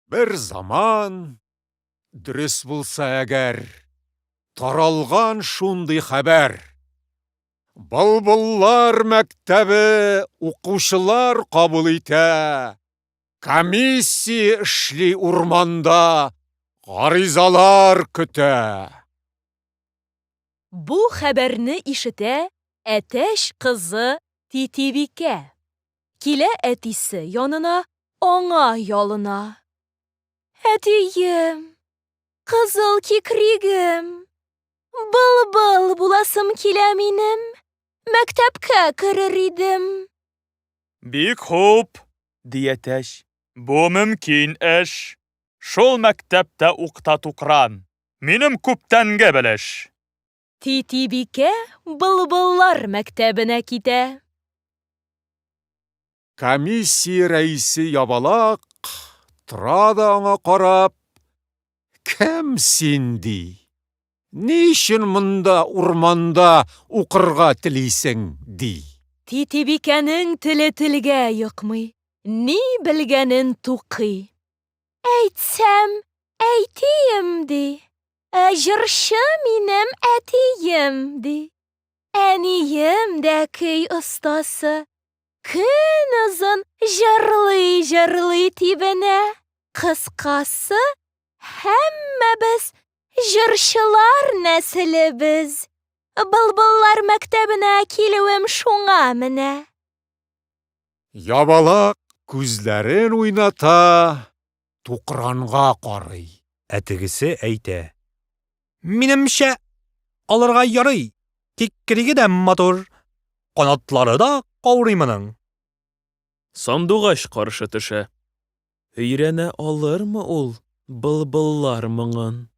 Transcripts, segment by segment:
Бер заман, дөрес булса әгәр, таралган шундый хәбәр. Былбыллар мәктәбе укучылар кабул итә. Комиссия эшли урманда, гаризалар көтә. Бу хәбәрне ишетә әтәч кызы Титибикә. Килә әтисе янына, аңа ялына. Әтием! Кызыл кикригем! Былбыл буласым килә минем, мәктәпкә керер идем. Бик хуп! ди әтәч. Бу мөмкин эш. Шул мәктәптә ук та тукран. Минем күптәнге белеш. Титибикә былбыллар мәктәбенә китә. Комиссия рәисе ябалак тора да аңа карап, Кем син, ди. Ни өчен монда, урманда, укырга телисең? ди. Титибикәнең теле телгә йокмый, ни белгәнен тукый. Әйтсәм, әйтим, ди. Ә җырчы минем әтием, ди. Әнием дә көй остасы. Көн озын җырлый-җырлый тибенә. Кыскасы, һәммәбез җырчылар нәселебез. Былбыллар мәктәбенә килүем шуңа менә. Ябалак күзләрен уйната, тукранга карый. Ә тегесе әйтә. Минемчә, алырга ярый, тик криге дә матур, канатлары да каурый моның. Сандугач каршы төшә. Өйрәнә алырмы ул былбыллар моңын?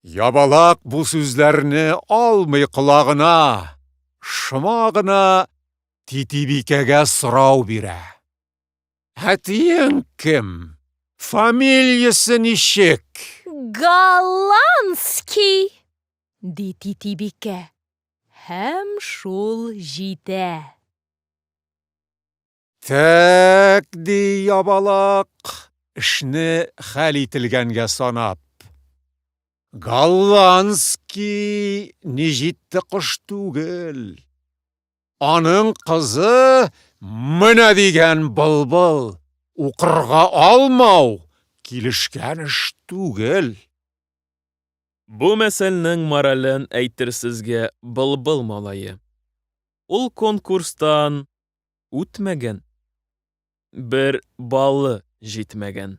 Ябалак бу сүзләрне алмый колагына, шома гына Титибикәгә сорау бирә. Ә тиең кем? Фамилиясе ничек? Голландский! ди Титибикә. Һәм шул җитә. Тәк, ди Ябалак, эшне хәл ителгәнгә санап. Голландский ни җитте кош түгел. Аның кызы менә дигән былбыл. Укырга алмау килешкән эш түгел. Бу мәсәлнең морален әйтер сезгә былбыл малае. Ул конкурстан үтмәгән, бер балы җитмәгән.